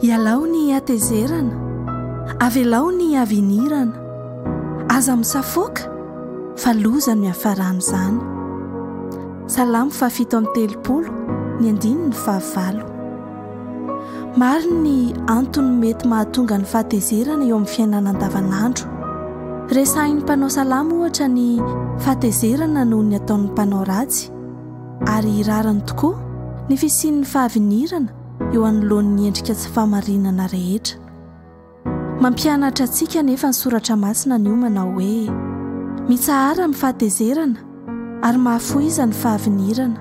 Ialao ny hatezerana, avelao ny havinirana, aza misafoaka fa loza no iafaran'izany. Salamo fahafito amby telopolo ny andininy fahavalo. Maro ny antony mety mahatonga ny fahatezerana eo amin'ny fiainana andavanandro. Resahin'ny mpanao salamo ohatra ny fahatezerana noho ny ataon'ny mpanao ratsy. ary rariny tokoa ny fisian'ny fahavinirana eo anoloan'ny endrika tsy fahamarinana rehetra. Mampianatra antsika anefa ny Soratra Masina anio manao hoe, Mitsahara ny fahatezerana ary mahafohiza ny fahavinirana,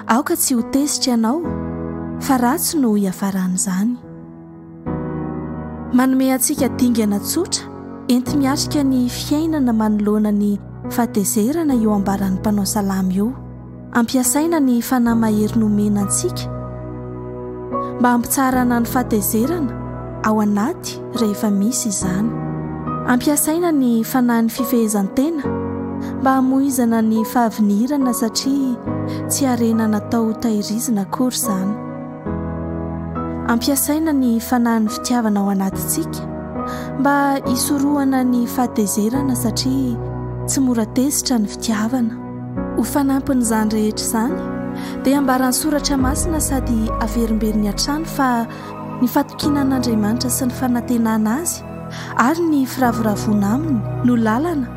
aoka tsy ho tezitra ianao, fa ratsy no hiafaran'izany. Manome antsika dingana tsotra enti-miatrika ny fiainana manoloana ny fahatezerana io ambaran'ny mpanao salamo io. Ampiasaina ny fanahy mahery nomena antsika mba hampitsaharana ny fahatezerana ao anaty rehefa misy izany. Ampiasaina ny fanahin'ny fifehezan-tena mba hamoizana ny fahavinirana satria tsy harena natao ho tahirizina akory izany. Ampiasaina ny fanahin'ny fitiavana ao anatintsika mba hisorohana ny fahatezerana satria tsy mora tezitra ny fitiavana. Ho fanampin'izany rehetra izany dia ambaran'ny soratra masina sady averimberiny hatrany fa ny fatokiana an'Andriamanitra sy ny fanantenana Azy ary ny firavoravoana Aminy no lalana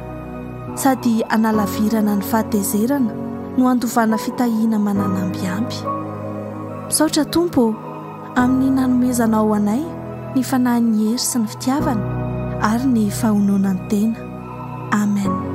Sady hanalavirana ny fahatezerana no handovana fitahiana mananamby ampy. Misaotra Tompo ô, amin'ny nanomezanao anay ny fanahin'ny hery sy ny fitiavana ary ny fahononan-tena. Amen.